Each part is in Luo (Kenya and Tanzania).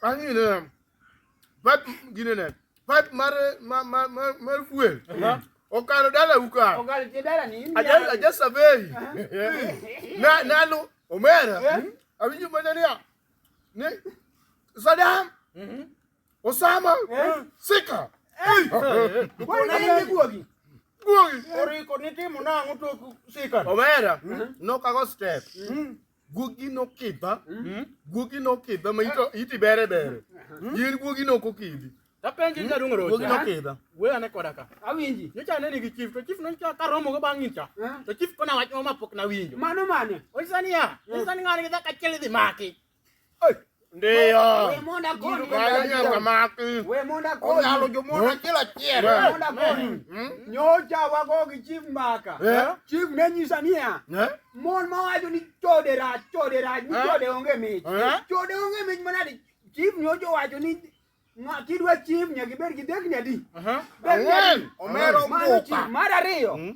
Anyị na pat gine ne pat mar ma ma ma mar fuel. Okalo dala uka. Okalo je dala ni. Aja aja sabei. Na nalo omera. Awinjo mana niya. Ne Saddam. Osama. Sika. Guogi. Guogi. Oriko nitimo nang'o tok sika. Omera. Nokago step. guogi nokidha hmm? guogi nokidha ma iti bere bere hmm? yien guogi nok okidhi tapenji hmm? nyadung rocha guogi nokidha we ane koda ka awinji nyocha ane nigi chief to chief nonyicha karomo go bang' nyicha to chief kona wach ma pok nawinjo mano mane onyisa niya onyisa ni ng'ani gi dhako achiel idhi maki Ndio. Wemona koni kalia kamaki. Wemona koni. Onyalo jomona kila chiel. Wemona koni. Nyocha wago gi chief maka. Chief ne nyisa niya. Mon ma wacho ni chode rach, chode rach, ni chode onge mich. Chode onge mich manadi. Chief nyocha wacho ni kidwa chief nyaka ibed gi dhekni adi. Dhekni adi. Omero muka. Mar ariyo.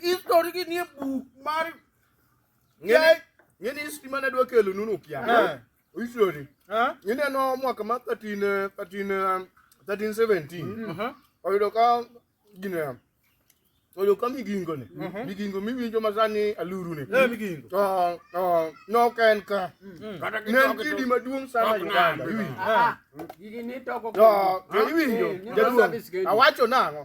History gi nie buk mar Ngeni ngeni history mane dwa kelo nunu kia. Eh. History. Eh? Ngeni no mwaka ma 13 13 1317. Mm -hmm. Oyudo ka gine oyo ka migingo ne mhm. migingo miwinjo masani aluru ne eh, migingo to to nok en ka mm. ne en kidi maduong' sana Uganda iwinjo ah, ah. to iwinjo eh, jaduong' awacho nang'o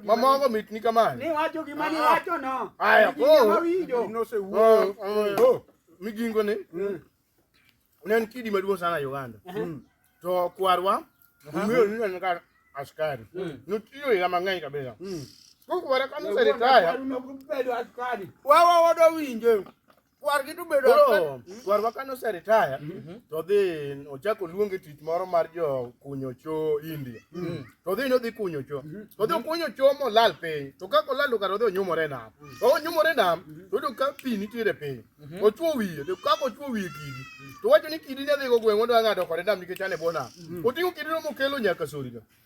Mamogo mitni kamano. Ni wacho gima ni ah, ah. wacho no. Aya, koro. Nosewuoyo. Ah, oh, migingo ni. Mm. Ne en kidi maduong' sana Uganda. Mm. To kwarwa, ung'eyo ni en kar askari. Mm. Notiyo higa mang'eny kabisa. Kokwara kanoseritaya. Wawa wadawinje. kwargi to bedo koro kwarwa kane oseritaya mhm. to odhi ochako oluonge tich moro mar jo kunyo cho india mhm. to odhi ni odhi kunyo cho mhm. to odhi okunyo cho molal piny to kaka olal kar odhi onyumore nam to onyumore nam to oyudo ka pi nitiere piny ochuo wiye to kaka ochuo wiye kidi to wacho ni kidi ne adhigo gweng' odwa ng'ado kode nam nikech ane bwo nam oting'o kidino mokelo nyaka sorino